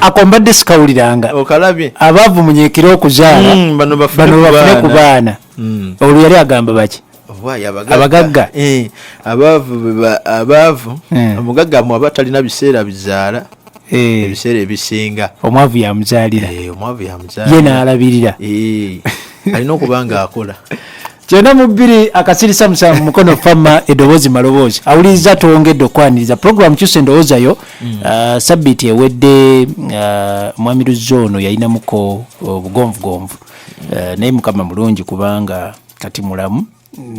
ako mbadde sikawuliranga okalabye abaavu munyekere okuzaala mm, bano bafune ku baana mm. olwo yali agamba baki abagagga eh, abaavu eh. omugagga mwaba talina biseera bizaala eh. ebiseera ebisinga omwavu yamuzaalira ye naalabirira alina okuba nga akola kyenda mu bbiri akasirisa musanvu mukono fama edoboozi maloboozi awuliriza twongedde okwaniriza puroguramu kyusa endowooza yo mm. uh, sabbiiti ewedde uh, mwami luzzi ono yalinamuko obugonvugonvu uh, uh, naye mukama mulungi kubanga kati mulamu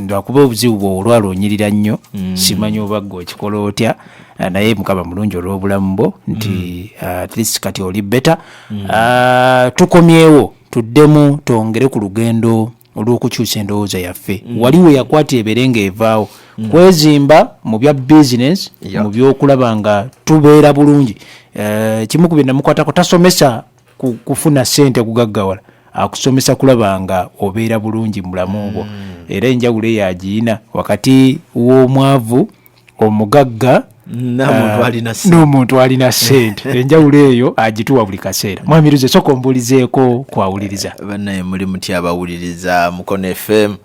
lwakuba obuzibu bwe olwalonyirira nnyo mm. simanyi oba gwe okikola otya uh, naye mukama mulungi olw'obulamu bwo nti mm. uh, at least kati oli beta tukomyewo tuddemu twongere ku lugendo olw'okukyusa endowooza yaffe mm. wali we yakwata ebere ng'evaawo mm. kwezimba mu bya bizinesi yeah. mu byokulaba nga tubeera bulungi eh, kimu ku byenamukwatako tasomesa kufuna sente kugaggawala akusomesa kulaba nga obeera bulungi mulamu bwo mm. era enjawulo eyo agiyina wakati w'omwavu omugagga n'omuntu ah, alina sente enjawulo eyo agituwa buli kaseera mwamirize soka ombuulizeeko kwawuliriza eh, banaye muli muty abawuliriza mukono fm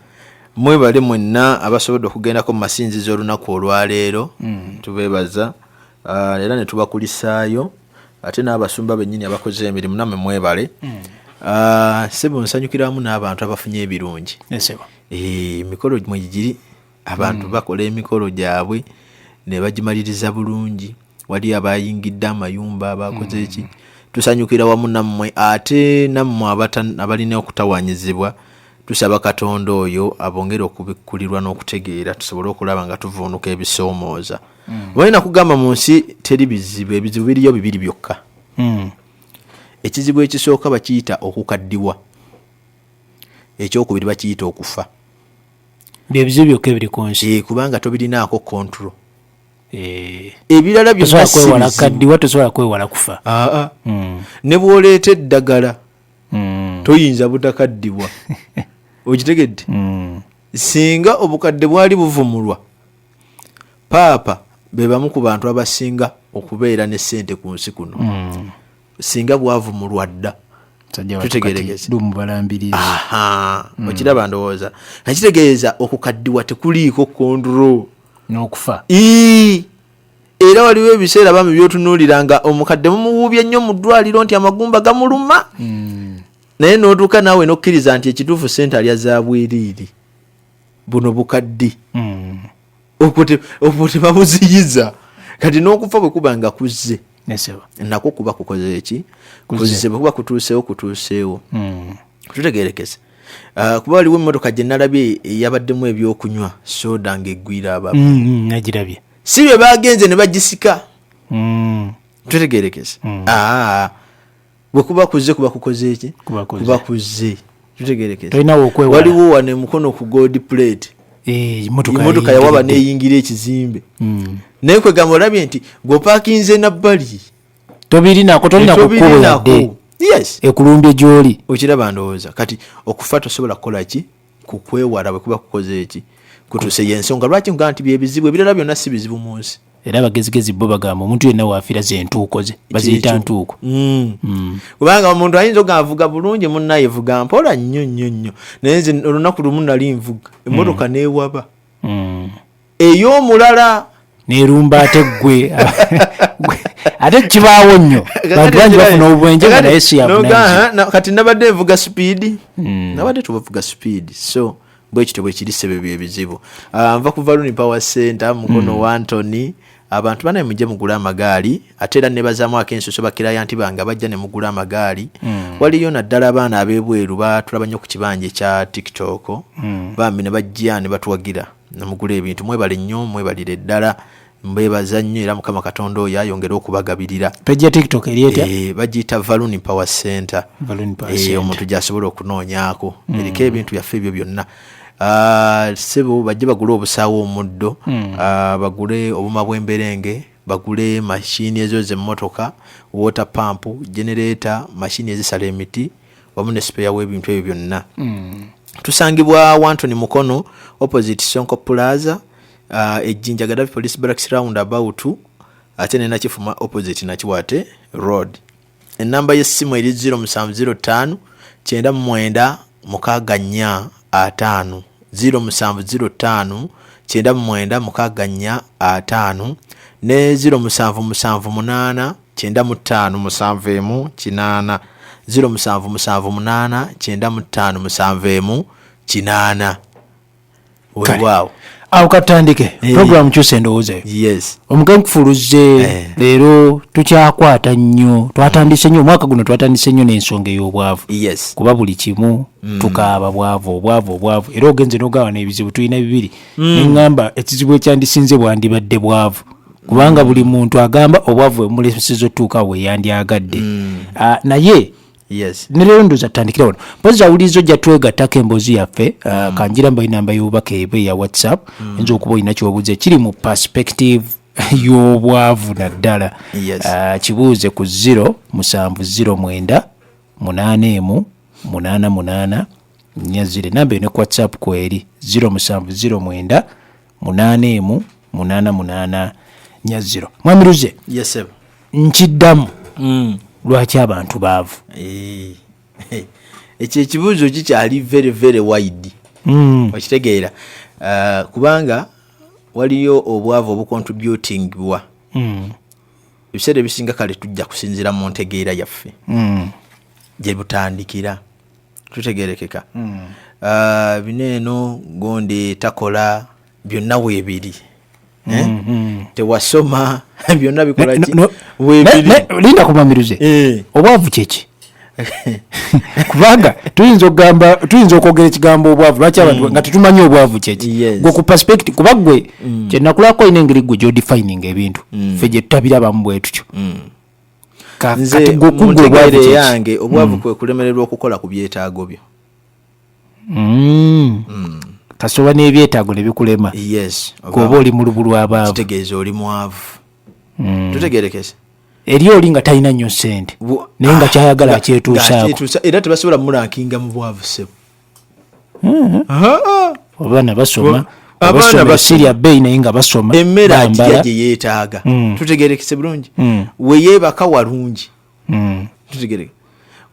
mwebale mwenna abasobodde okugendako mu masinzizo olunaku olwaleero mm. tubebaza ah, era netubakulisaayo ate n'abasumba bennyini abakoze emirimu namwe mwebale mm. ah, sebo nsanyukiramu n'abantu abafunye ebirungi eh, emikolo mwegiri abantu hmm. bakola emikolo gyabwe ne bagimaliriza bulungi wali abayingidde amayumba abakoze eki hmm. tusanyukira wamu nammwe ate nammwe abalina okutawanyizibwa tusaba katonda oyo abongere okubikkulirwa n'okutegeera tusobole okulaba nga tuvuunuka ebisoomooza hmm. balina kugamba mu nsi teri bizibu ebizibu biriyo bibiri byokka ekizibu ekisooka bakiyita okukaddiwa ekyokubiri bakiyita okufa byebizibu byokka ebiri ku nsi eh, kubanga tobirinaako control eh. ebirala byonakaddiwa tosobola kwewala kufa ah, ah. Hmm. ne bwoleeta eddagala hmm. toyinza butakaddibwa okitegedde hmm. singa obukadde bwali buvumulwa paapa be bamu ku bantu abasinga okubeera ne ssente ku nsi kuno singa bwavu mulwadda mm. okiraba ndowooza nakitegeeza okukaddiwa tekuliiko kondro nokufa era waliwo ebiseera bami byotunuulira nga omukadde mumuwuubye nnyo mu ddwaliro nti amagumba gamuluma mm. naye notuuka naawe nokkiriza nti ekituufu sente alya za bwiriiri buno bukaddi mm. obwo tebabuziyiza kati n'okufa bwe kuba nga kuzze nakwo kuba kukoze eki kuzze bwe kuba kutuuseewo kutuuseewo hmm. tutegerekese ah, kuba waliwo emmotoka gye nalabye eyabaddemu ebyokunywa soda nga eggwira ababnagirabye hmm, hmm, si bye bagenze ne bagisika tutegerekese ah. bwekuba kuzze kuba kukoze ki kuba kuzze tutegerekewaliwo wano emukono ku gold plate eh, emotoka yawaba neyingira ekizimbe hmm. naye kwegamba olabye nti gwopakinze nabbali tobirinako tolina kukuweyadde ekulumbye gyoli okiraba ndowooza kati okufa tosobola kukola ki kukwewala bwe kuba kukoze eki kutuse yensonga lwaki nga nti byebizibu ebirala byonna si bizibu mu nsi era abagezigezi bo bagamba omuntu yenna waafira ze ntuuko ze baziyita ntuuko mm. Mm. kubanga omuntu ayinza oga avuga bulungi munnaye vuga mpola nnyo nnyo nnyo naye nze olunaku lumu nali nvuga emmotoka mm. neewaba ey'omulala nerumba ate gwe ate kibaawo nnyo bantu bangi bafuna obwenje nga naye siyakati nabadde nvuga sipiidi hmm. nabadde tubavuga sipiidi so bwekityo bwekiri sebe byebizibu ah, nva kuva luni power center mukono hmm. wantoni abantu banaye mujje mugule amagaali ate era nebazamu akensuso bakirayanti bange abajja ne mugula amagaali mm. waliyo naddala abaana abebweru batulaba nnyo ku kibanja ekya tiktok mm. bambi ne bajja ne batuwagira namugula ebintu mwebale nnyo mwebalire ddala mbebaza nnyo era mukama katonda oyo ayongere okubagabirira page ya tiktok eryeta e, eh, bagiyita valuni power center eh, omuntu gyasobola okunoonyako mm. eriko ebintu byaffe ebyo byonna ah, sebo bajje bagule obusaawo omuddo mm. ah, bagule obuma bwemberenge bagule mashini ezo zemmotoka water pump generator mashini ezisala emiti wamu ne sipeya w'ebintu ebyo byonna mm. tusangibwa wantoni mukono opposite sonko plaza uh, ejjinja gadafi police barracks round about ate ne nakifuma opposite nakiwate road ennamba y'essimu eri 0705 kyenda mumwenda mukaaga nnya ataano 0705 kyenda mumwenda mukaaga nnya ataano ne 0778 kyenda mu ttaano musanvu emu kinaana ziro musanvu musanvu munaana kyenda mu ttaano musanvu emu kinaana wewaawo awo katandike eh. programu kyusa endowooza eyo omugenyi kufuluzze eh. leero tukyakwata nnyo twatandise nnyo omwaka guno twatandise nnyo n'ensonga ey'obwavu kuba buli kimu mm. tukaaba bwavu obwavu obwavu era ogenze n'ogawa n'ebizibu tulina bibiri mm. neŋŋamba ekizibu ekyandisinze bwandibadde bwavu kubanga buli muntu agamba obwavu emulesiza otuuka we yandyagadde mm. ah, naye yes neleero ndoza tutandikira wano mpozi awuliriza ojja twegattako emboozi yaffe uh, mm. kanjira mba enamba y'obubaka ebe ya whatsapp mm. oyinza okuba olina kyobuuza ekiri mu perspective y'obwavu naddala yes. uh, kibuuze ku ziro musanvu ziro mwenda munaana emu munaana munaana nya zire namba ene ku whatsapp kweri ziro musanvu ziro mwenda munaana emu munaana munaana nya ziro mwamiruze yes, nkiddamu mm. lwaki abantu baavu eh, eh, ekyo ekibuuzo kikyali very very wide mm. okitegeera uh, kubanga waliyo obwavu obucontributingwa mm. ebiseera ebisinga kale tujja kusinziira mu ntegeera yaffe mm. gye butandikira tutegerekeka hmm. ah, bino eno gundi takola byonna weebiri eh? hmm, hmm. tewasoma byonna bikolalinda kubamiruze eh. obwavu kyeki kubanga tuyinza okugamba tuyinza okwogera ekigambo obwavu lwaki abantu mm. nga tetumanyi obwavu kyeki gwe ku perspective kuba gwe mm. kyenakulako olina engeri gwe gyodifining ebintu mm. fe gyetutabirabamu bwetutyo nze muntegeere yange obwavu mm. kwe kulemererwa okukola ku byetaago byo mm. mm. kasoba n'ebyetaago ne bikulema kuoba oli mulubu lwabaavu kitegeeza oli mwavu tutegerekese eri oli nga talina nnyo sente naye nga ah, kyayagala akyetuusaako era tebasobola mulankinga mu bwavu sebo hmm. abaana basoma abaana basirya bbeeyi naye nga basoma emmere agirya gye yeetaaga hmm. tutegerekese bulungi hmm. weyeebaka walungi tutegereke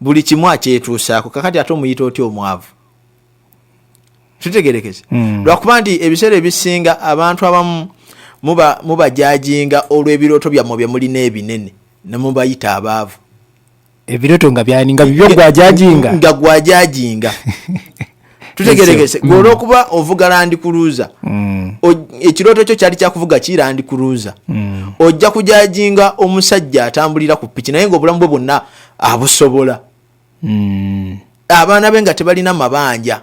buli kimu akyetuusaako kakati ate omuyita otya omwavu tutegerekese lwakuba nti ebiseera ebisinga abantu abamu mubajajinga olw'ebirooto byammwe bye mulina ebinene nemubayita abaavu ebiroto nga byani nga bibyo gwajajinga nga gwajajinga tutegerekese gwe mm. olwokuba ovuga landi kuluza mm. ekiroto kyo kyali kyakuvuga ki landi kuluza mm. ojja kujajinga omusajja atambulira ku piki naye nga obulamu bwe bwonna abusobola abaana be nga tebalina mabanja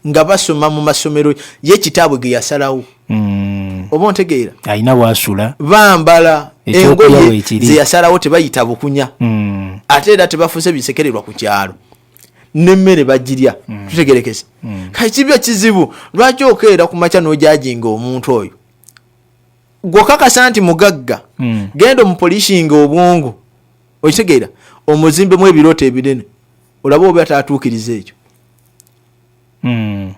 nga basoma mu masomero ye kitaabwe ge yasalawo mm. oba ontegeera alina wasula bambala engoye ze yasalawo tebayita bukunya mm. ate era tebafuuse bisekererwa ku kyalo nemmere bagirya mm. tutegerekese mm. kakibyo kizibu lwaki okeera ku makya n'ojajinga omuntu oyo gwokakasa nti mugagga mm. genda omupolishinga obwongo okitegeera omuzimbemu ebirooto ebinene olaba oba tatuukiriza ekyo mm.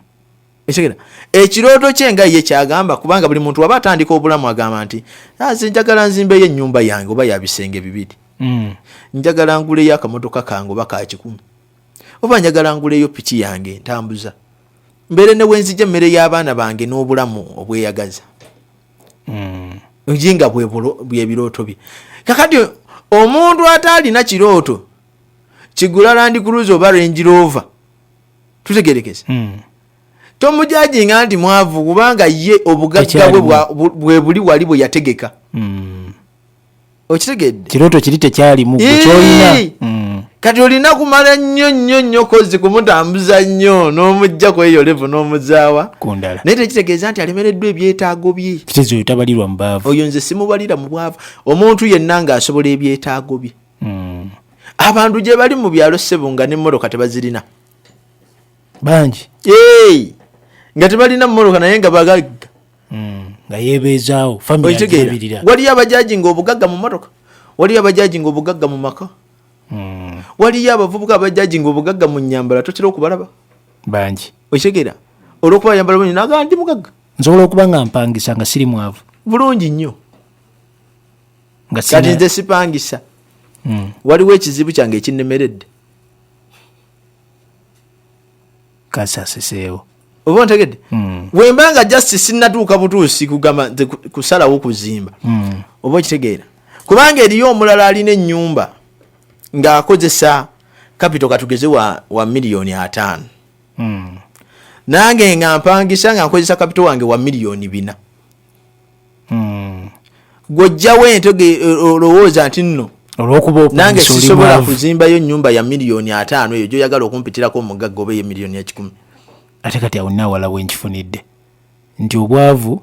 ekigera ekirooto kye nga ye kyagamba kubanga buli muntu waba atandika obulamu agamba nti ah, nze njagala nzimbeyo ennyumba yange oba yabisenge bibiri mm. njagala nguleyo akamotoka kange oba ka kikumi oba njagala nguleyo piki yange ntambuza mbeere ne wenzija emmere y'abaana bange n'obulamu obweyagaza mm. nga bwebirooto bye kakati omuntu ataalina kirooto kigula land cruise oba range rover tutegerekese hmm. tomujajinga nti mwavu kubanga ye obugagga bwe buli wali bwe yategeka hmm. okitegedde kirooto kiri tekyalimu kyolina hmm. kati olina kumala nnyo nnyo nnyo kozi kumutambuza nnyo n'omujja kweyo levu n'omuzaawa kundala naye tekitegeeza nti alemereddwa ebyetaago bye kitezo oyo tabalirwa mu baavu oyo nze simubalira mu bwavu omuntu yenna ng'asobola ebyetaago bye mm. abantu gye bali mu byalo ssebo nga nemmotoka tebazirina bangi hey! nga tebalina mmoloka naye nga bagagga mm, nga yebeezaawo famiotegeera waliyo abajaji nga obugagga mu motoka waliyo abajaji nga obugagga mu maka mm. waliyo abavubuka abajaji nga obugagga mu nyambala totera okubalaba bangi okitegeera olwokuba yambala bulungi naga ndi mugagga nsobola okuba nga mpangisa nga siri mwavu bulungi nnyo kati nze sipangisa hmm. waliwo ekizibu kyange ekinemeredde kasaseseewo oba ntegedde hmm. wemba nga just sinatuuka butuusi kugamba kusalawo kuzimba hmm. oba okitegeera kubanga eriyo omulala alina enyumba ng'akozesa kapito katugeze wa, wa miliyoni ataano hmm. nange nga mpangisa nga nkozesa kapito wange wa miliyoni bina hmm. gwojjawo ente olowooza nti nno nange sisobola kuzimbayo nyumba ya miliyoni ataano eyo gyoyagala okumpitirako omugagga oba eyemiliyoni ekikumi ate kati awo nawala wenkifunidde nti obwavu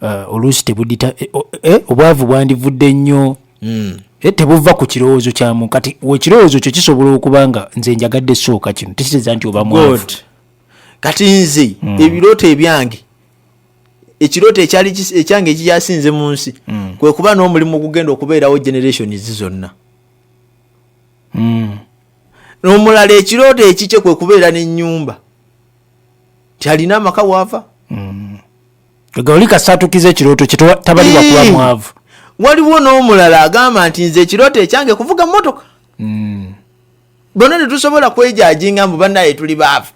uh, oluusi tebudita eh, eh, obwavu bwandivudde nnyo hmm. eh, tebuva ku kirowoozo kyamu kati ekirowoozo kyo kisobola okuba nga nze njagadde sooka kino tekiteeza nti oba mwavu kati nze hmm. ebirooto ebyange ekirooto ekyali ekyange ekikyasinze mu nsi mm. kwe kuba n'omulimu ogugenda okubeerawo generations zonna mm. n'omulala ekirooto ekikye kwe kubeera n'ennyumba tyalina amaka waava mm. oli kasaatukiza ekirooto kyetabalibwa kuba mwavu waliwo n'omulala agamba nti nze ekirooto ekyange kuvuga mmotoka bona tetusobola kwejajinga mbu banaye tuli baavu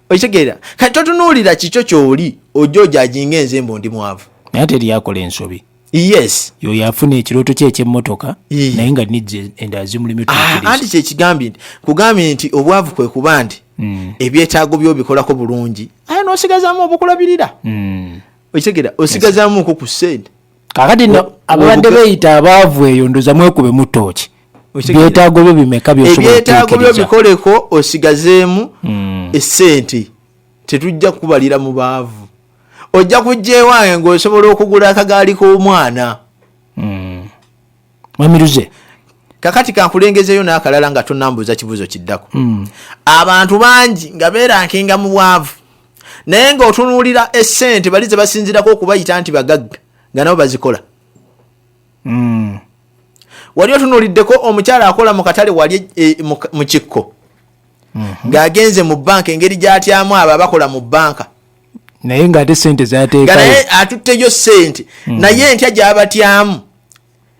okitegeera kati totunuulira kikyo kyoli ojja ojajinga enze mbu ndi mwavu naye teri akola ensobi yes yoyo afuna ekirooto kye ekyemmotoka naye nga nijja endala zimulimu ah, anti kyekigambye nti kugambye nti obwavu kwe kuba nti mm. ebyetaago byobikolako bulungi aye nosigazamu obukulabirira mm. okitegeera osigazamuko ku sente kakati no ababadde beyita abaavu eyo ndoza mwekube mutooki byetaago byo bimeka byebyetaago byo bikoleko osigazeemu hmm. esente tetujja kubalira mu baavu ojja kujja ewange ngaosobola okugula akagaali k'omwana hmm. mwamiruze kakati kankulengezeyo n'akalala nga tonambuuza kibuuzo kiddako hmm. abantu bangi nga beerankinga mu bwavu naye ng'otunuulira essente bali ze basinzirako okubayita nti bagagga nga nabo bazikola hmm. wali otunuuliddeko omukyala akola mu katale wali e, mu kikko mhm. ng'agenze mu banka engeri gy'atyamu abo abakola mu banka naye ng'ate sente zateekayo atutte yo sente hmm. naye entya gy'abatyamu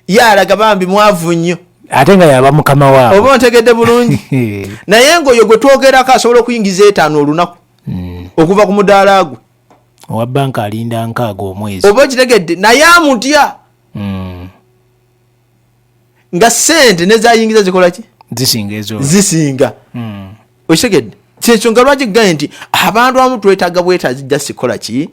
ye alaga bambi mwavu nnyo ate nga yaba mukama waabo oba ontegedde bulungi naye ngaoyo gwe twogerako asobola okuyingiza etaano olunaku hmm. okuva ku mudaala gwe owa banka alinda nkaaga omwezi oba okitegedde naye amutya hmm. nga sente nezayingiza zikolaki zisinga ezo zisinga hmm. okitegedde kyekyo nga lwaki gaye nti abantu abamu twetaaga bwetaazi just kola ki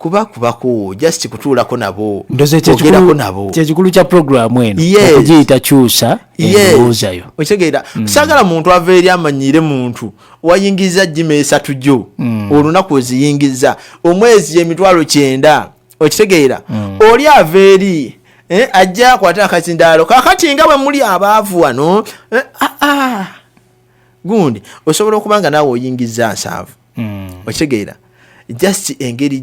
kuba kubako just kutuulako nabo ogerako nabo kyekikulu kya programu eno okugiyita kyusa endowoozayo okitegeera mm. saagala muntu ava eri amanyiire muntu wayingiriza jima esatu gyo mm. olunaku oziyingiriza omwezi emitwalo kyenda okitegeera mm. oli ava eri eh, ajja akwate akazindaalo kakati nga bwe muli abaavu wano eh, ah, ah. gundi osobola okuba nga naawe oyingizza nsanvu mm. okitegeera just engeri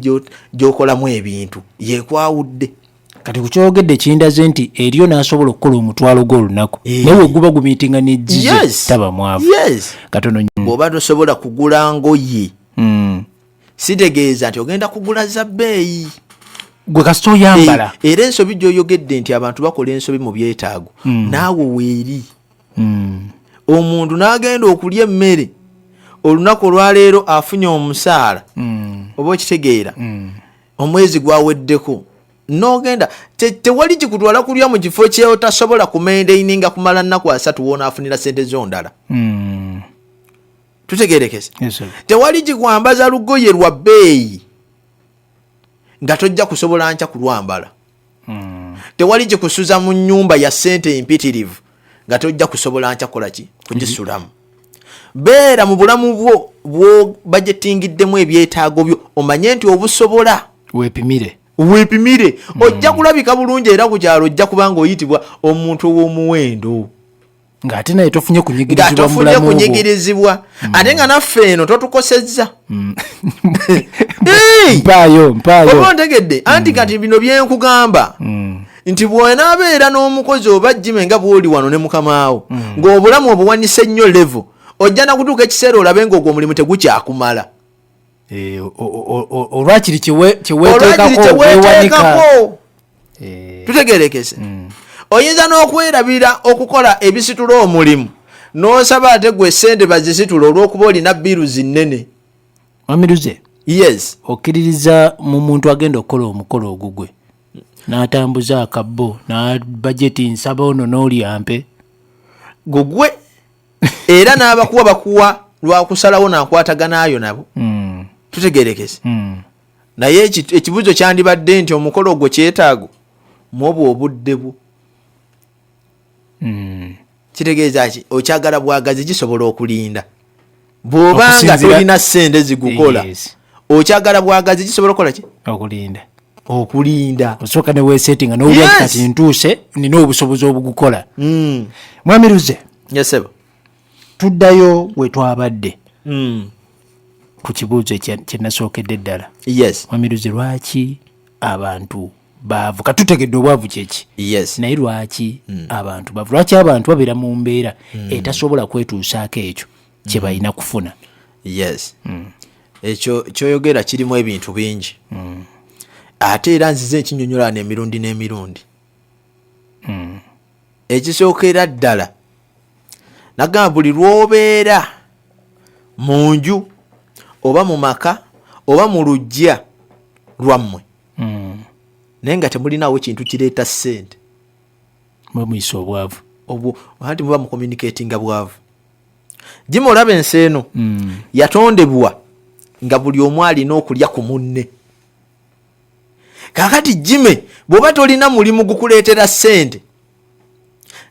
gyokolamu ebintu yekwawudde kati kukyogedde kindaze nti eriyo nasobola okukola omutwalo gwo olunaku eh. naye weguba gumitinga nejizitaba mwavu katono bwoba tosobola kugula ngoye hmm. sitegeeza nti ogenda kugula za bbeeyi gwe kasita oyambala eh, era ensobi gyoyogedde nti abantu bakola ensobi mu byetaago hmm. naawe weeri hmm. omuntu n'agenda okulya emmere olunaku olwaleero afunye omusaala hmm. oba okitegeera hmm. omwezi gwaweddeko nogenda tewali kikutwala kulya mu kifo kyeotasobola kumendeini nga kumala nnaku asatu wonaafunira sente zondala tutegerekese tewali kikwambaza lugoye lwa bbeeyi nga tojja kusobola nkya kulwambala mm. tewali gikusuza mu nyumba ya sente empitirivu nga tojja kusobola nkya kolaki kugisulamu beera mu bulamu bwo bwobajetingiddemu ebyetaago byo omanye nti obusobola wepimire wepimire mm. ojja kulabika bulungi era ku kyalo ojja kubanga oyitibwa omuntu ow'omuwendo ng'ate naye tofunye kunyigirizibwatofunye kunyigirizibwa mm. ate nga naffe eno totukosezza mm. mpaayo mpaayo ontegedde anti mm. kati bino byenkugamba nti bwonaabeera n'omukozi oba jime nga bwoli wano ne mukamaawo ng'obulamu obuwanise nnyo levo ojja nakutuuka ekiseera olabe ng'ogwo omulimu tegukyakumala eh, olwakiri kyeweteekako eh. tutegerekese hmm. oyinza n'okwerabira okukola ebisitula omulimu n'osaba ate gwe sente bazisitula olw'okuba olina biiru zinnene amiruze yes okkiririza mu muntu agenda okukola omukolo ogugwe n'atambuza akabbo n'abajeti nsaba ono n'olyampe gugwe era n'abakuwa bakuwa lwakusalawo nakwataganayo nabo hmm. tutegerekese hmm. naye ekibuzo kyandibadde nti omukolo ogwo kyetaago mwobwo obudde bwo hmm. kitegeeza ki okyagala bwagazi gisobola okulinda bwoba nga tolina sente zigukola okyagala bwagazi kisobola okukola ki okulinda okulinda osooka newesetinga nowulira yes. kati ntuuse nina obusobozi obugukola mm. mwami luze yesebo tuddayo wetwabadde mm. ku kibuuzo kyenasookedde ddala yes. mwami luze lwaki abantu baavu katutegedde obwavu kyeki yes. naye lwaki mm. abantu baavu lwaki abantu babeera mu mbeera mm. etasobola kwetuusaako ekyo kye mm. balina kufuna yes mm. ekyo kyoyogera kirimu ebintu bingi mm. ate era nzize ekinyonyolana emirundi n'emirundi mm. ekisookera ddala nagamba buli lwobeera mu nju oba mu maka oba mu lujja lwammwe mm. naye nga temulinawo kintu kireeta ssente mwemuisa obwavu anti muba mucommunicatinga bwavu jima olaba ensi eno mm. yatondebwa nga buli omu alina okulya ku munne kakati jime bwoba tolina mulimu gukuleetera sente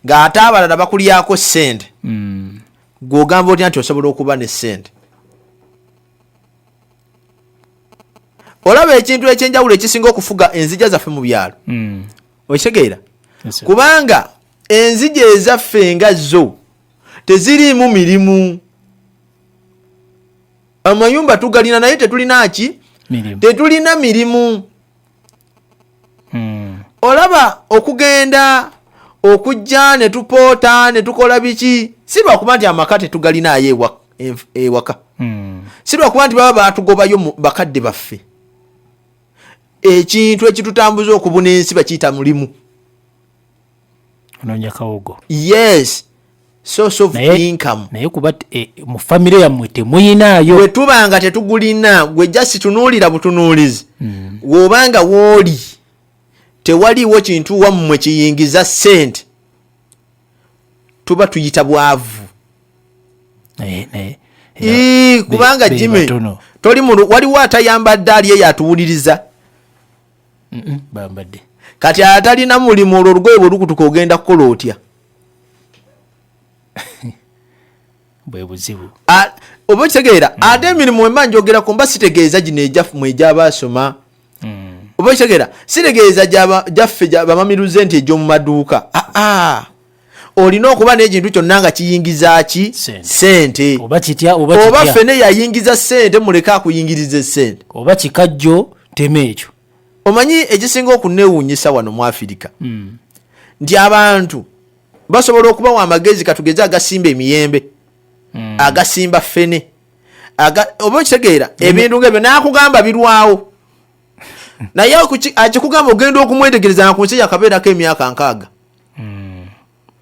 ng'ate abalala bakulyako sente mm. gwogamba otya nti osobola okuba ne sente olaba ekintu ekyenjawulo ekisinga okufuga enzija zaffe mu byalo mm. okitegeera kubanga enzija ezaffe nga zo teziriimu mirimu amayumba tugalina naye tetulina ki tetulina mirimu hmm. olaba okugenda okujja ne tupoota ne tukola biki si lwakuba nti amaka tetugalinaayo ewaka hmm. si lwakuba nti baba batugobayo bakadde baffe ekintu ekitutambuza okubuna ensi bakiyita mulimu onoonya kawogo yes source of naye, income naye kuba e, mu famire yammwe temuyinaayo bwe tuba nga tetugulina gwe jasi tunuulira butunuulizi mm. woba nga wooli tewaliiwo kintu wammwe kiyingiza sente tuba tuyita bwavu naye naye kubanga jime toli waliwo atayambadde ali eyo atuwuliriza bambadde kati atalina mulimu olwo olugoye bwe lukutuka ogenda kukola otya bwe buzibu oba okitegeera hmm. ate emirimu wemba njogerako mba sitegeeza gino egyafmu egyaba asoma hmm. oba okitegeera sitegeeza gyaffe bamamiruze nti egy'omu maduuka aa ah, ah. olina okuba n'ekintu kyonna nga kiyingiza ki sente oba fene yayingiza sente muleke akuyingiriza esente oba kikajjo tema ekyo omanyi ekisinga okunewunyisa wano mu afirika hmm. nti abantu basobola okubawa amagezi katugeze agasimba emiyembe hmm. agasimba fene oba okitegeera ebintu ngaebyo nakugamba birwawo naye akikugamba ogenda okumwetegereza nga ku nsi yakabeerako emyaka nkaaga hmm.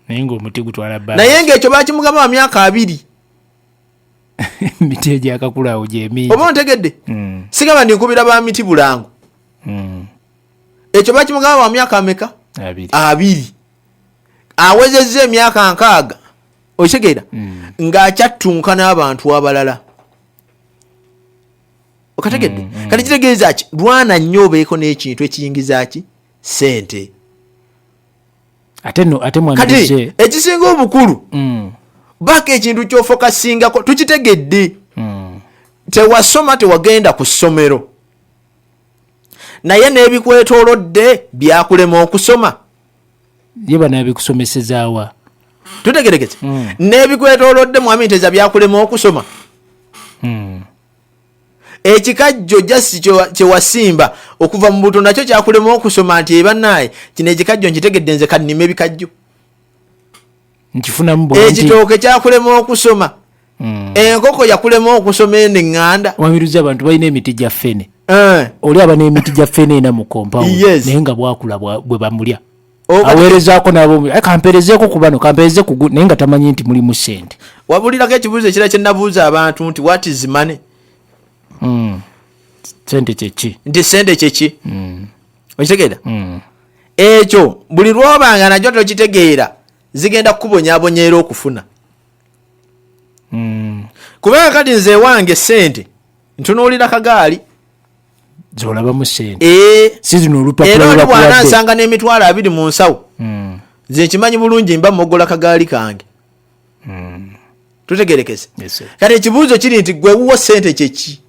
naye ngaomuti gutwala ba naye ngaekyo bakimugaba wa myaka abiri miti egyakakulaawo gyemingi oba ontegedde hmm. sigaba ndi nkubira ba miti bulango hmm. ekyo bakimugaba wa myaka ameka abiri awezezza emyaka nkaaga okitegeera ng'akyattunka n'abantu abalala okategedde mm, mm. kati kitegeeza ki lwana nnyo obeeko n'ekintu ekiyingiza ki sente kati ekisinga obukulu mm. baako ekintu kyofokasingako tukitegedde mm. tewasoma tewagenda ku ssomero naye n'ebikwetolodde byakulema okusoma ye banabikusomesezaawa tutegerekese mm. n'ebikwetolodde mwami nteza byakulema okusoma ekikajjo just kyewasimba okuva mu buto nakyo kyakulema okusoma nti ebanaye kino ekikajjo nkitegedde nze kanima ebikajjo ekitooke kyakulema okusoma hmm. enkoko yakulema okusoma eno eŋŋanda wamiruza abantu balina emiti gya fene eh. oli aba n'emiti gya fene ena mu kompawu naye nga bwakula bwe bamulya aweerezaako nabo eh, kampeerezeeko ku bano kampeereze kugu naye nga tamanyi nti mulimu sente wabulirako ekibuuzo ekira kyenabuuza abantu nti wat is money hmm. sente kyeki nti sente kyeki hmm. okitegeera hmm. ekyo buli lwobanga nakyo tokitegeera zigenda kukubonyabonyaera okufuna kubanga kati nze ewange sente ntunuulira kagaali zolabamu sente eh, sizino olupapula lwa bwana asanga ne mitwala abiri mu nsawo mm. nze nkimanyi bulungi mba mogola kagaali kange mm. tutegerekese yes, kati ekibuuzo kiri nti gwe wuwo sente kyeki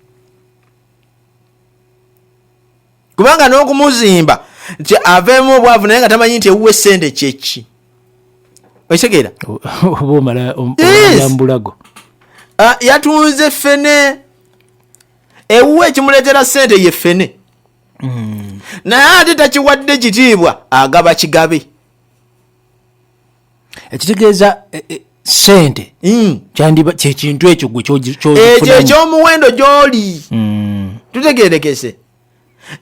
kubanga n'okumuzimba nti aveemu obwavu naye nga tamanyi nti ewuwe sente kyeki okitegeera oba omala ombulago ah, yatunze fene ewuwe ekimuleetera ssente ye ffene hmm. naye ate takiwadde kitiibwa agaba kigabe ekitegeeza e, e, sente hmm. kyandiba kyekintu ekyo gwe ekyo ekyomuwendo gyoli hmm. tutegerekese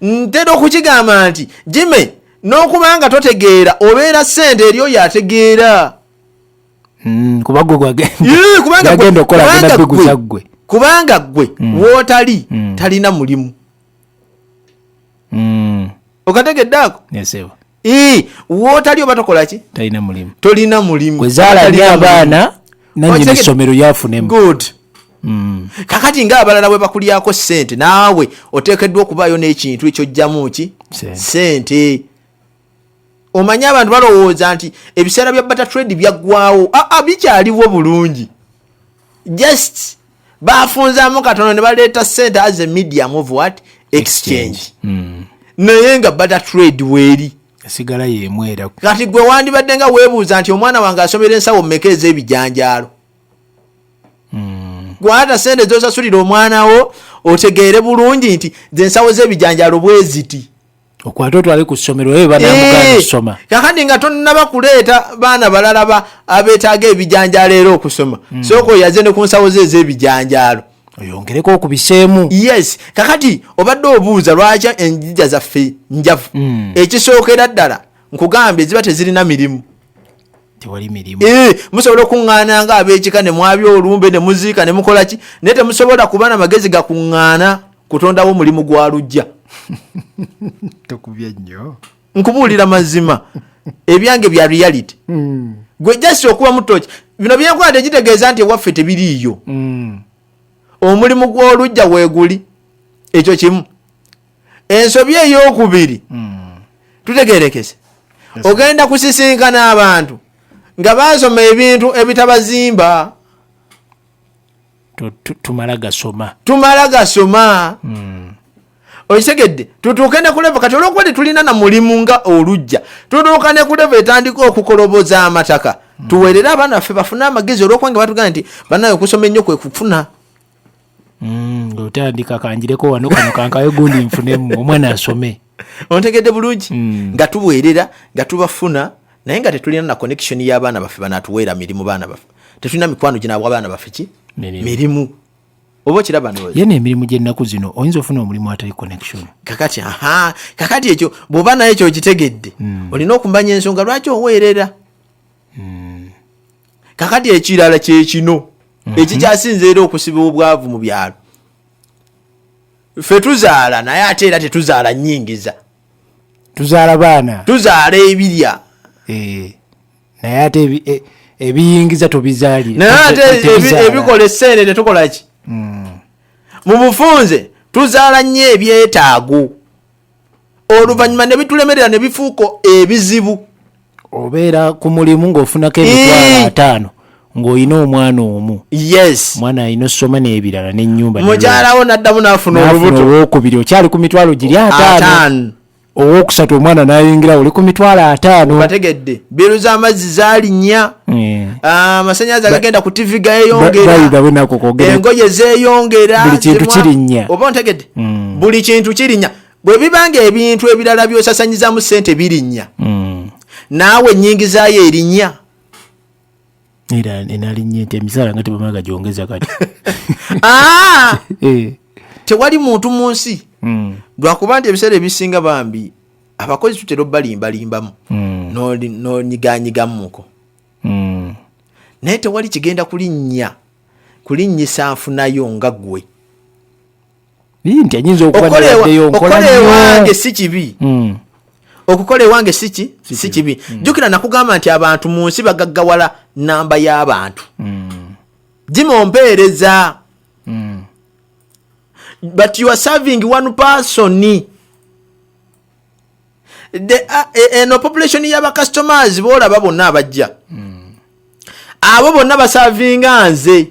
ntera okukigamba nti jime n'okubanga totegeera obeera sente eri oyo ategeera mm, kubanga gwe mm. wotali mm. talina mulimu mm. okategedde ako yes, ee wotali oba tokolaki talina mulimu tolina mulimu kwezalali abaana nanyini essomero yafunemu good Mm. kakati nga abalala bwe bakulyako sente naawe oteekeddwa okubaayo n'ekintu ekyojjamu ki sente omanyi abantu balowooza nti ebiseera bya bata trade byaggwawo aa ah, ah, bikyaliwo bulungi just bafunzamu katono ne baleeta sente as a medium of what exchange hmm. naye nga bata trade weeri esigala yemwera kati gwe wandibadde nga weebuuza nti omwana wange asomera ensawo mumeka ez'ebijanjaalo hmm. gwata sente zosasulira omwana wo otegeere bulungi nti zensawo z'ebijanjaalo bweziti okwate otwale ku ssomero ebe banamugaana okusoma eh, kakati nga tonnaba kuleeta baana balala ba abeetaaga ebijanjaalo era okusoma hmm. sooka oyaze ne ku nsawo ze ez'ebijanjaalo oyongereko okubiseemu yes kakati obadde obuuza lwaki enjija zaffe njavu hmm. ekisookera ddala nkugambye ziba tezirina mirimu tewali mirimu eh, musobola okuŋŋaana nga ab'ekika ne mwabi olumbe ne muziika ne mukola ki naye temusobola kuba na magezi gakuŋŋaana kutondawo omulimu gwa lujja tokubye nnyo nkubuulira mazima ebyange bya reality hmm. gwe jasi okuba mutoki bino byenkola tekitegeeza nti ewaffe tebiriiyo hmm. omulimu gw'olujja weeguli ekyo kimu ensobi eyokubiri hmm. tutegerekese ogenda kusisinkana abantu nga basoma ebintu ebitabazimba tumala gasoma tumala gasoma hmm. okitegedde tutuuke ne kuleva kati olwokuba tetulina na mulimu nga olujja tutuuka ne kuleva etandika okukoloboza amataka hmm. tuweerere abaana baffe bafune amagezi olwokuba nga batugamba nti banaye okusoma ennyo kwe kufuna mm, ngaotandika kanjireko wano kano kankawe gundi nfunemu omwana asome ontegedde bulungi mm. nga tuweerera nga tubafuna naye nga tetulina na connection y'abaana baffe banatuweera mirimu baana baffe tetulina mikwano ginabwa abaana baffe ki mirimu oba okiraba yena emirimu gyennaku zino oyinza ofuna omulimu atali connection kakati aha kakati ekyo bwoba naye ekyo okitegedde hmm. olina okumanya ensonga lwaki oweerera hmm. kakati ekirala kyekino mhm. ekikyasinze era okusiba obwavu mu byalo fe tuzaala naye ate era tetuzaala nyingiza tuzaala baana tuzaala ebirya eh, naye ate e, ebiyingiza tubizaalira naye ate ebikola esente tetukolaki mm. mu bufunze tuzaala nnyo ebyetaago oluvannyuma ne bitulemerera ne bifuuka ebizibu obeera ku mulimu ng'ofunako emitwalo eh. ataano ng'olina omwana omu yes mwana alina osoma n'ebirala n'ennyumba mukyalawo n'addamu n'afuna olubuto owokubiri okyali ku mitwalo giri ataano owokusatu omwana nayingira oli ku mitwalo ataano bategedde biru z'amazzi zalinnya eh. ah, amasanyalaze agagenda ku tivi gayeyongeraengoye zeyongera buli kintu kirinnya oba ntegedde mm. buli kintu kirinya bwe bibanga ebintu ebirala byosasanyizamu sente birinya mm. naawe enyingizayo erinya era enalinya nti emisaala nga tebamaga gyongeza kati ah! eh. tewali muntu mu nsi mm. lwakuba nti ebiseera ebisinga bambi abakozi tutera obalimbalimbamu mm. nonyiganyigamuko mm. naye tewali kigenda kulinnya kulinnyisa nfunayo nga gwe nti enyinza okubaokola ewange si kibi hmm. okukola ewange siki si kibi hmm. jjukira nakugamba nti abantu mu nsi bagaggawala namba y'abantu hmm. jima ompeereza but you are serving one person e, eno population y'abacustomers boolaba bonna abajja abo bonna basavinga nze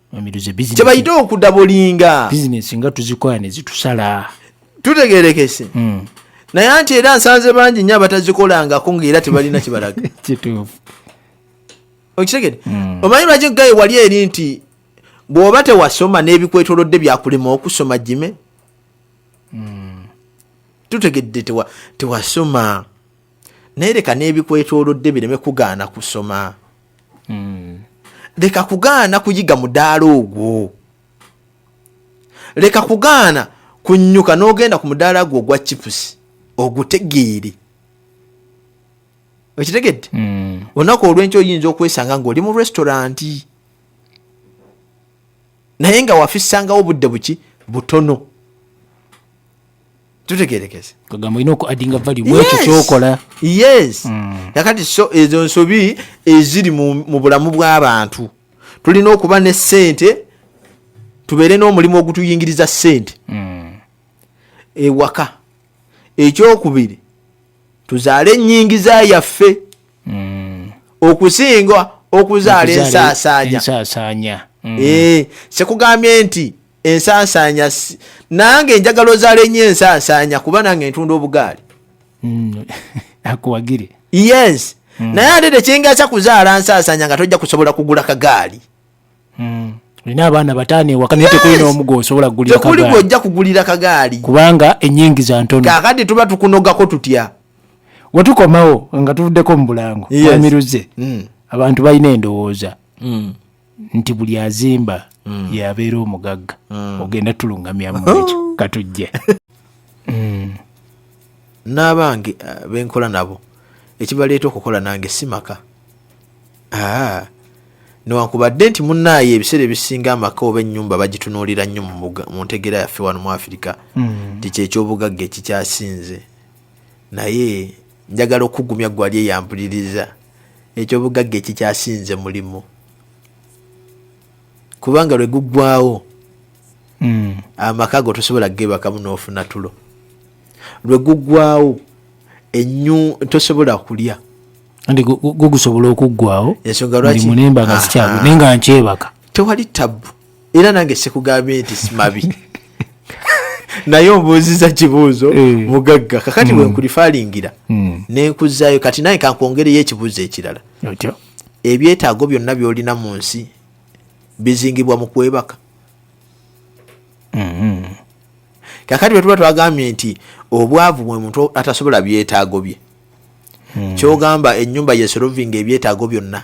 kyebayite okudabolinga bizinesi nga tuzikola ne zitusala tutegerekese hmm. naye anti era nsanze bangi nyo abatazikolangako ngaera tebalina kibalaga kituufu okitegede hmm. omanyi lwaki gaye wali eri nti bw'oba tewasoma n'ebikwetolodde byakulema okusoma jime hmm. tutegedde tewasoma naye leka n'ebikwetoolodde bireme kugaana kusoma hmm. leka kugaana kuyiga mudaala ogwo leka kugaana kunyuka n'ogenda ku mudaala gwo ogwa chipusi ogutegeere okitegedde hmm. olunaku olwenkyo oyinza okwesanga ngaoli mu restauranti naye nga wafisangawo obudde buki butono tutegerekese kagamba olina oku adinga vali mwekyo kyokola yes mm. nakati so ezo nsobi eziri mu bulamu bw'abantu tulina okuba ne sente tubeere n'omulimu ogutuyingiriza sente mm. ewaka ekyokubiri tuzaale enyingiza yaffe mm. okusinga okuzaala ensaasaanya mm. eh, sekugambye nti ensansaanya nange njagala ozalenyo ensansaanya kuba nange ntunda obugaali mm. akuwagire yes mm. naye ate tekyengasa kuzaala nsansaanya nga tojja kusobola kugula kagaali mm. olina abaana bataano ewaka naye tekuli n'omu gwosobola kugulira tekuli gwojja kugulira kagaali kubanga enyingiza ntono kakati tuba tukunogako tutya wetukomawo nga tuvuddeko mu bulango amiruze mm. abantu balina endowooza mm. nti buli azimba mm. yabeera omugagga mm. ogenda tulungamya muekyo oh. katujje mm. n'abange uh, benkola nabo ekibaleeta okukola nange si maka ah. newankubadde nti munaaye ebiseera ebisinga amaka oba ennyumba bagitunuulira nnyo mu ntegera yaffe wano mu afirika mm. nti kyekyobugagga ekikyasinze naye njagala okugumya gwali eyampuliriza ekyobugagga ekikyasinze mulimu kubanga lwe guggwawo hmm. amaka go tosobola gebakamu n'ofuna tulo lwe guggwawo enyu tosobola kulya nti gugusobola okuggwawo ensonga lwaki mulimba nga ah, sikyago ah. naye nga nkyebaka tewali tabbu era nange sikugambye nti simabi naye ombuuziza kibuuzo eh. mugagga kakati hmm. wenkulifalingira hmm. nenkuzayo kati naye kankwongereyo ekibuuzo ekirala ebyetaago byonna byolina mu nsi bizingibwa mu kwebaka hmm. kakati bwetuba twagambye nti obwavu bwe muntu atasobola byetaago bye kyogamba enyumba yesolovinga ebyetaago byonna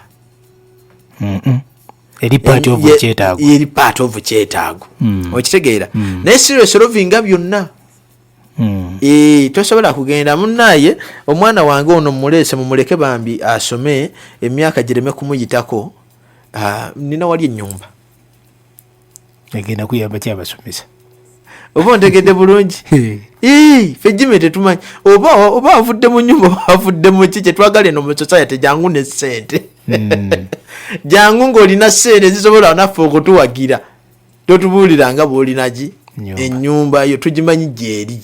eri part of kyetaago eri part of kyetaago hmm. okitegeera hmm. naye serious rovinga byonna hmm. eh, tosobola kugenda munaye omwana wange ono mumulese mumuleke bambi asome emyaka gireme kumuyitako ah, nina wali enyumba egenda kuyamba ki abasomesa oba ontegedde bulungi fe jime tetumanyi oba oba avudde mu nyumba oba avudde mu ki kyetwagala eno mu society jangu ne sente hmm. jangu ng'olina sente zisobola naffe okutuwagira totubuuliranga bwolinaki enyumba yo tugimanyi gyeri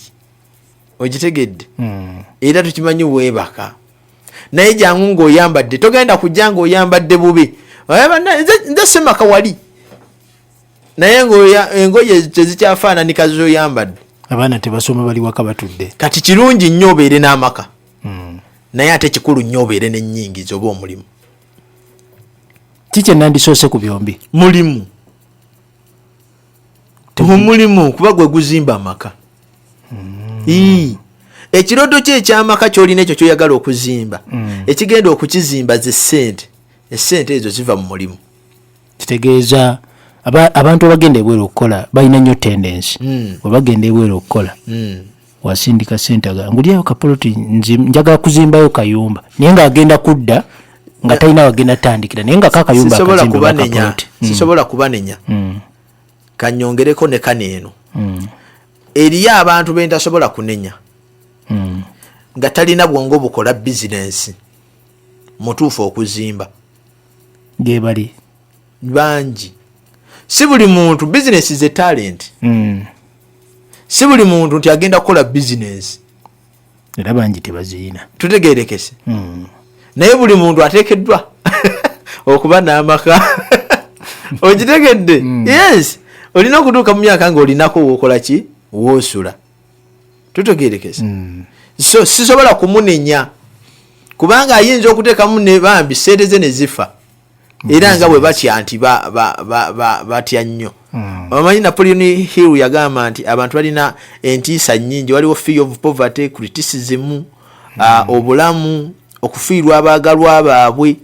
okitegedde hmm. era tukimanyi weebaka naye jangu ngaoyambadde togenda kujja ngaoyambadde bubi nze semaka wali naye engoye tezikyafaananika zoyambadde abaana tebasoma bali waka batudde kati kirungi nnyo obeere n'amaka hmm. naye ate kikulu nnyo obeere nenyingiza oba omulimu kikyenandisoose ku byombi mulimu omulimu kuba gwe guzimba amaka mm. ekirodo kyo ekyamaka kyolina ekyo kyoyagala okuzimba mm. ekigenda okukizimba ze sente esente ezo ziva mu mulimu kitegeeza abantu abagenda ebweru okukola balina nyo tendensi mm. webagenda ebweru okukola mm. wasindika sente aga ngulyayo kapoloti njagala kuzimbayo kayumba naye ng'agenda kudda nga talina wagenda tandikira naye nga kakayumba hmm. sisobola kubanenya hmm. kanyongereko ne kano eno hmm. eriyo abantu bentasobola kunenya nga talina bwongo bukola bizinensi mutuufu okuzimba gebali bangi si buli muntu bizinesi ze talenti hmm. si buli muntu nti agenda kukola bizinesi era bangi tebaziyina tutegerekese hmm. naye buli muntu atekeddwa okuba n'amaka okitegedde hmm. yes olina okutuuka mu myaka ngaolinako wokola ki wosula tutegerekese so sisobola kumunenya kubanga ayinza okuteekamu ne bambi sente ze ne zifa era nga bwe batya nti batya nnyo hmm. omanyi napoleon hill yagamba nti abantu balina entiisa nyingi waliwo fee of poverty criticism hmm. ah, obulamu okufiirwa abaagalwa baabwe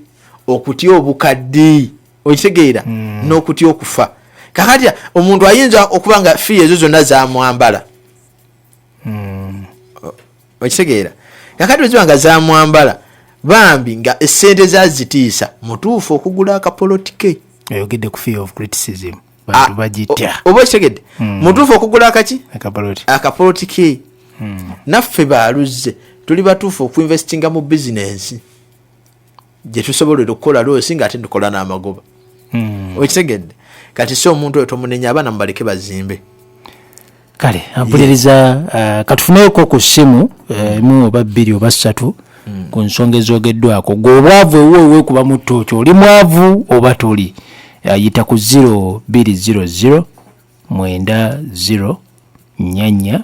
okutya obukadde okitegeera hmm. n'okutya okufa kakatya omuntu ayinza okuba nga fee ezo zonna zamwambala hmm. okitegeera kakati oziba nga zamwambala bambi nga esente zazitiisa mutuufu okugula akapolotike oyogedde ku fear of criticism bantu ah, bagitya oba okitegedde hmm. mutuufu okugula akaki akapolotike hmm. naffe baluzze tuli batuufu okuinvestinga mu bizinensi gyetusobolera okukola loosi nga ate tukola n'amagoba hmm. okitegedde kati si omuntu oyo tomunenya abaana mubaleke bazimbe kale ampuliriza uh, katufuneyoko ku ssimu uh, emu oba bbiri oba ssatu hmm. ku nsonga ezogeddwako gwe obwavu ewo ewekuba mu tooki oli mwavu oba toli uh, yita ku 0200 mwenda 0 nyanya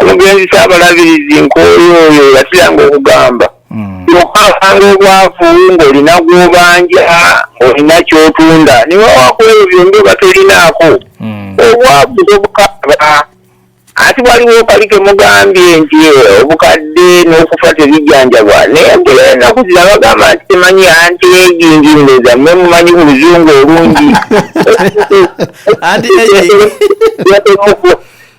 omugenzi saabalabirizi nkooyo oyo yasiranga okugamba hmm. okukakanga obwavu ng'olina gwobanja olina kyotunda niwe wakuleyo byombi oba tolinaako hmm. obwavu tobukaba ati waliwo kali kemugambye nti obukadde n'okufa tebijjanjabwa naye mpera enaku zira bagamba nti temanyi anti egingi ndoza mwe mumanyi mu luzungu olungi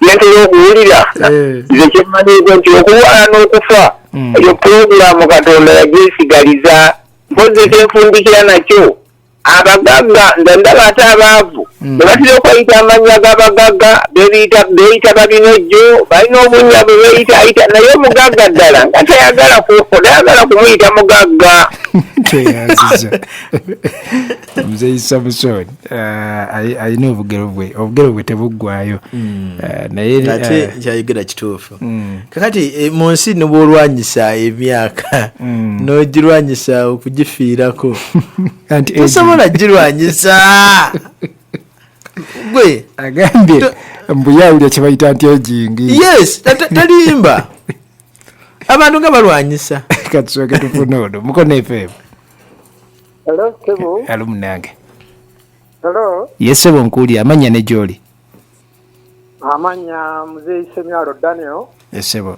nentera okuwulira eh. nze kyemmanyiiko nti okulwala n'okufa hmm. eyo pulogulaamu katonda yajesigaliza mpozi kyenfundikira nakyo abagagga nze ndaba ate abaavu hmm. ne batera okweyita amannya g'abagagga beeyita babinojjo balina obunya bwe beeyitaayita naye omugagga ddala nga tayagala tayagala kumuyita mugagga muzeyi samuson uh, alina obugero bwe obugero bwe tebuggwayo hmm. uh, nayeate uh, kyayogera kituufu hmm. kakati eh, mu nsi nibwolwanyisa emyaka hmm. nogirwanyisa okugifiirako tosobola girwanyisa gwe agambye mbuyawulya kyebayita nti ejingi yes talimba abantu nga balwanyisa katusoke tufuna ono mukono efeemu Hello, Sebo. Eh, Hello, Munange. Hello. Yes, Sebo Nkuli, amanya ne Joli. Amanya mzee Isemyalo Daniel. Yes, Sebo.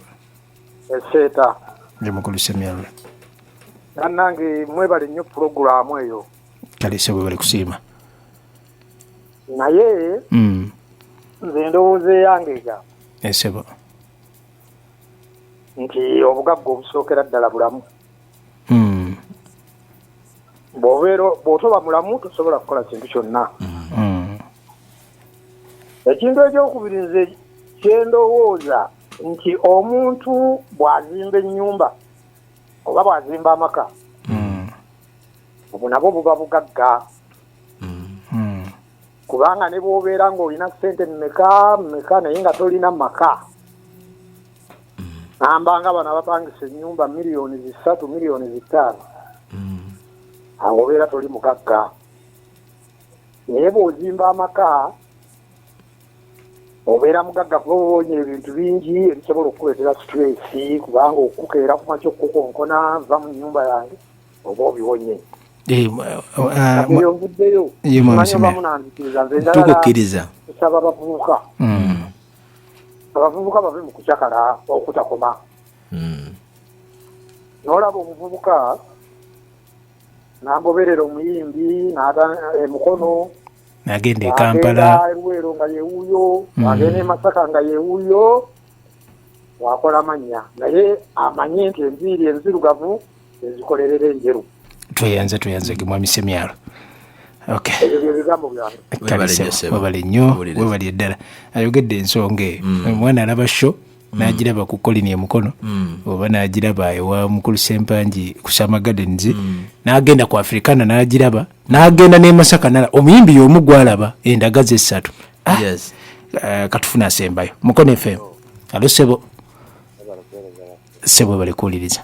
Eseta. Ndi mukulu Isemyalo. Nanange mwebale nnyo programu eyo. Kale Sebo bali kusiima. Naye. Mm. Nze ndowooza eyangega. Yes, Sebo. Nti obugagga obusookera ddala bulamu. hmm. bwobeera bwotoba mulamu tosobola kukola kintu kyonna hmm. ekintu ekyokubiri nze kyendowooza nti omuntu bwazimba ennyumba oba bwazimba amaka hmm. obwo nabwo buba bugagga kubanga ne bwobeera ng'olina ssente mumeka mumeka naye nga tolina maka namba nga bano abapangisa enyumba miliyoni zisatu miliyoni zitaano mm. awo obeera toli mugagga naye bwozimba amaka obeera mugagga kuba obonya ebintu bingi ebisobola okukuleetera situlesi kubanga okukeera kumakya okukukonkona va mu nyumba yange oba obibonye eh, eh, ovuddeyo manyi obamunanzikiriza nze ndalala kusaba bavubuka mm. abavubuka bave mu kucakala okutakoma hmm. nolaba omuvubuka nagoberera omuyimbi emukono eh, nagenda ekampala eruweero nga yewuyo hmm. agenda emasaka nga yewuyo wakola manya naye amanye nti enviiri enzirugavu ezikolerera enjeru tweyanze tweyanze gemwami semyalo webale nnyo webali eddala ayogedde ensonga eyo mm. omwana alaba sho mm. nagiraba ku kolini emukono mm. oba nagiraba ewa mukulu sempangi ku sama gardens nagenda ku afrikana nagiraba nagenda nemasaka nala omuyimbi yomu gwalaba endaga zesatu ah, eh, katufuna asembayo mukono fm alo sebo sebo balikuwuliriza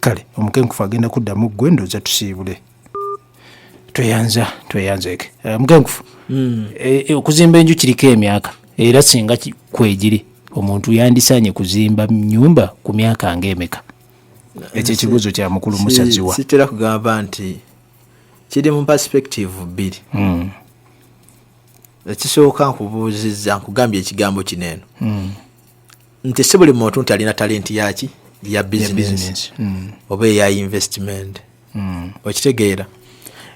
kale omukenkufu agenda kuddamu gwe ndoza tusiibule tweyanza tweyanzeke eh, mukenkufu hmm. eh, eh, okuzimba enju kiriko emyaka era singa kwegiri omuntu yandisanye kuzimba nyumba ku myaka ngaemeka ekyo ekibuzo kya mukulu musaziwa sitera kugamba nti kiri mu perspective bbiri hmm. ekisooka nkubuuzizza nkugambye ekigambo kino eno hmm. nti si buli muntu nti alina talenti yaki ya bizinesi mm. oba eya investment mm. okitegeera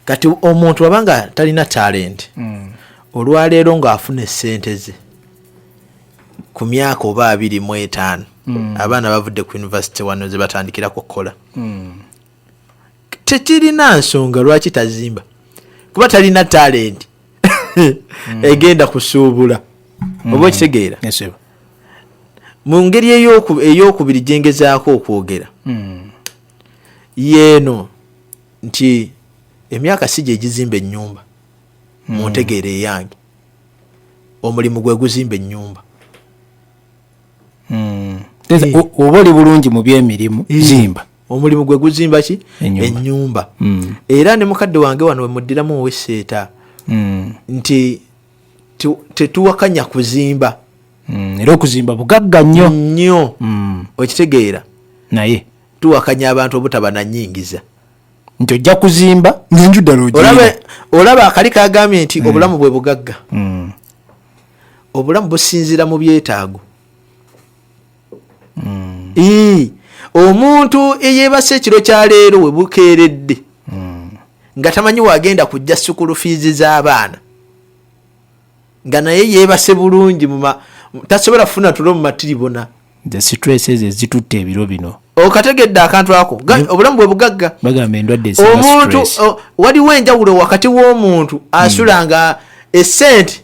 kati omuntu aba nga talina talenti mm. olwaleero ng'afuna esente ze ku myaka oba abiri mu etaano abaana bavudde ku univesity wano ze batandikirako okukola tekirina nsonga lwaki tazimba kuba talina talenti hmm. egenda kusuubula hmm. oba okitegeera mu ngeri eyokubiri gyengezaako okwogera hmm. yeeno nti emyaka si gyegizimba ennyumba mu ntegeera eyange omulimu gwe guzimba ennyumba oba oli bulungi mu byemirimu zimba omulimu gwe guzimba ki enyumba mm. era ne mukadde wange wano wemuddiramu oweseeta mm. nti tetuwakanya kuzimba mm. era okuzimba bugagga nnyo nnyo okitegeera naye tuwakanya abantu obutaba nanyingiza nti ojja kuzimba nenju ddala olaba akali kagambye nti obulamu bwe bugagga obulamu businzira mu byetaago mm. ii omuntu eyebase ekiro kya leero we bukeeredde mm. nga tamanyi wagenda kujja sukulu fiizi z'abaana nga naye yebase bulungi tasobola kufuna tulo mu matiribona the stress ezo ezitutte ebiro bino okategedde akantu ako obulamu bwe bugagga bagamba endwadde omuntu waliwo enjawulo wakati w'omuntu asula nga esente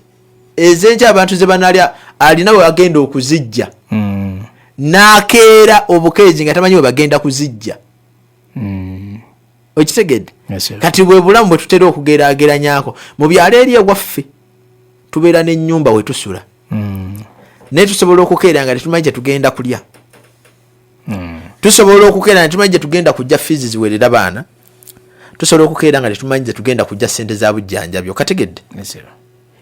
ezenkya abantu ze banalya alina we bagenda okuzijja mm. nakeera obukeezi nga tamanyi we bagenda kuzijja mm. okitegedde kati bwe bulamu bwe tutera okugeraageranyako mu byalo eri ewaffe tubeera n'ennyumba we tusula mm. naye tusobola okukeera nga tetumanyi kye tugenda kulya hmm. tusobola okukeera nga tumanyi gyetugenda kujja fiizi ziwerera baana tusobola okukeera nga tetumanyi gyetugenda kujja sente za bujjanjabi okategedde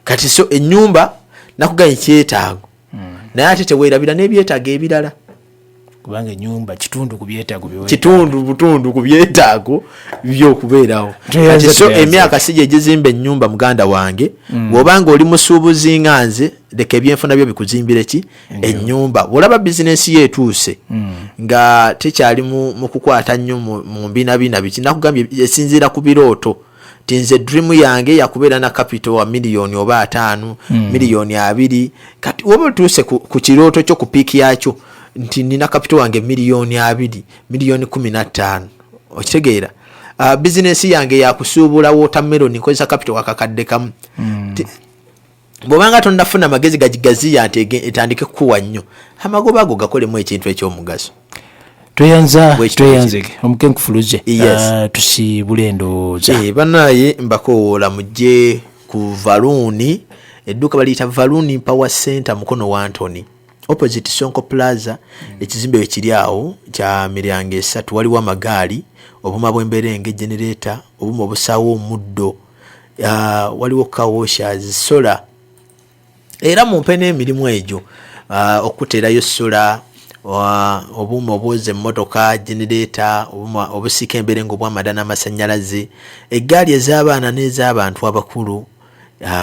kati so enyumba nakugaye kyetaago hmm. naye ate tewerabira nebyetaago ebirala kubanga enyumba kitundu ku byetaago kitundu butundu ku byetaago byokubeerawo kati so emyaka si gyegizimba enyumba muganda wange mm. bwobanga oli musuubuzi nga nze leka ebyenfuna byo bikuzimbire ki enyumba bwolaba bizinensi ye etuuse hmm. nga tekyali mu kukwata nnyo mu mbinabina biki nakugambye esinziira ku birooto ti nze dream yange yakubeera na capital wa miliyoni oba ataano hmm. miliyoni abiri kati oba otuuse ku kirooto kyo ku piiki yakyo nti nina capital wange miliyoni abiri miliyoni kumi na ttaano okitegeera ah, bizinensi yange yakusuubula watermelon nkozesa capital wakakadde kamu hmm. bwobanga tonafuna magezi gagigaziya nti etandike kukuwa nnyo amagoba ago gakolemu ekintu ekyomugaso tweyanza tweyanzege omukenkufuluze ah, tusibule endowooza eh, banaye mbakowoola mujje ku valuuni edduuka baliyita valuuni power center mukono wa antony opposite sonko plaza mm. ekizimbe wekiri awo kya miryango esatu waliwo amagaali obuma bwembeera enge genereeta obuma obusaawo omuddo uh, waliwo kawosha zisola era mumpe n'emirimu egyo uh, okuteerayo sola obuuma obwoza emmotoka genereeta obuuma obusiika emberengo obwamada n'amasannyalaze eggaali ez'abaana n'ez'abantu abakulu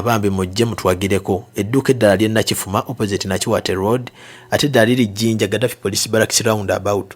bambi mujje mutwagireko edduuka eddala lyennakifuma opposite nakiwate road ate eddala liri jjinja gadafi police baraks round about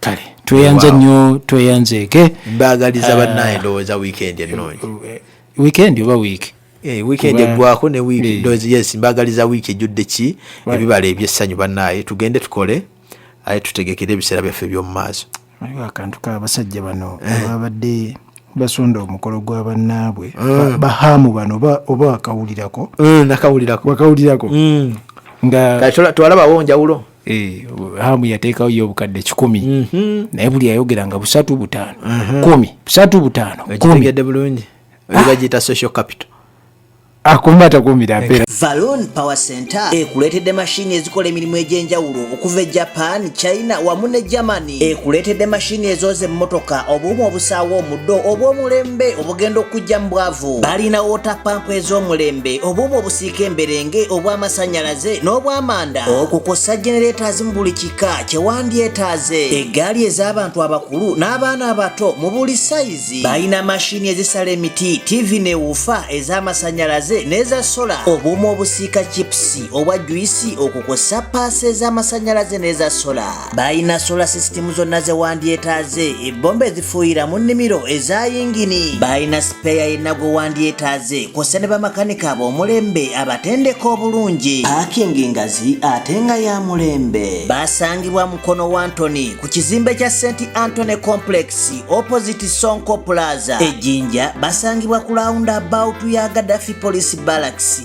kale tweyanze nnyo tweyanzeeke mbagaliza ah. bannaye ndowooza wiikendi ennungi eh, wiikendi oba wiiki eh, weekend eggwako ne wiiki eh. yes mbagaliza wiiki ejjudde ki ebibala ebyessanyu bannaye tugende tukole aye tutegekere ebiseera byaffe eby'omu maaso waliwo akantu kabasajja bano ababadde basonda omukolo gwa bannaabwe ah. bahaamu bano oba wakawulirako nakawulirako wakawulirako hmm. nga twalabawo njawulo Eh, hamu yateekawo yo obukadde kikumi mhm. naye buli yayogera nga busatu butaano mhm. kumi busatu butaano kumitegedde bulungi ah. bagiyita social capital akumba takumira mpera valon power center ekuleetedde mashini ezikola emirimu egy'enjawulo okuva e japan china wamu ne germany ekuleetedde mashini ezooza emmotoka obuuma obusaawa omuddo obw'omulembe obugenda okujja mu bwavu balina wota pampu ez'omulembe obuuma obusiika emberenge obw'amasannyalaze n'obwamanda okukosa genereeta zimu buli kika kyewandyetaaze eggaali ez'abantu abakulu n'abaana abato mu buli sayizi balina mashini ezisala emiti tivi newuufa ez'amasannyalaze n'eza sola obuuma obusiika chipusi obwa juyisi okukosa paasi ez'amasannyalaze n'eza sola balina sola sisitimu zonna ze wandyetaaze ebbomba ezifuuyira mu nnimiro eza yingini balina sipeeya yenna gwe wandyetaaze kw'ossa ne bamakanika ab'omulembe abatendeka obulungi paakingi ngazi ate nga ya mulembe basangibwa mukono wa antony ku kizimbe kya st antony complex opposite sonko plaza ejjinja basangibwa ku launda about ya gadafi police balaxi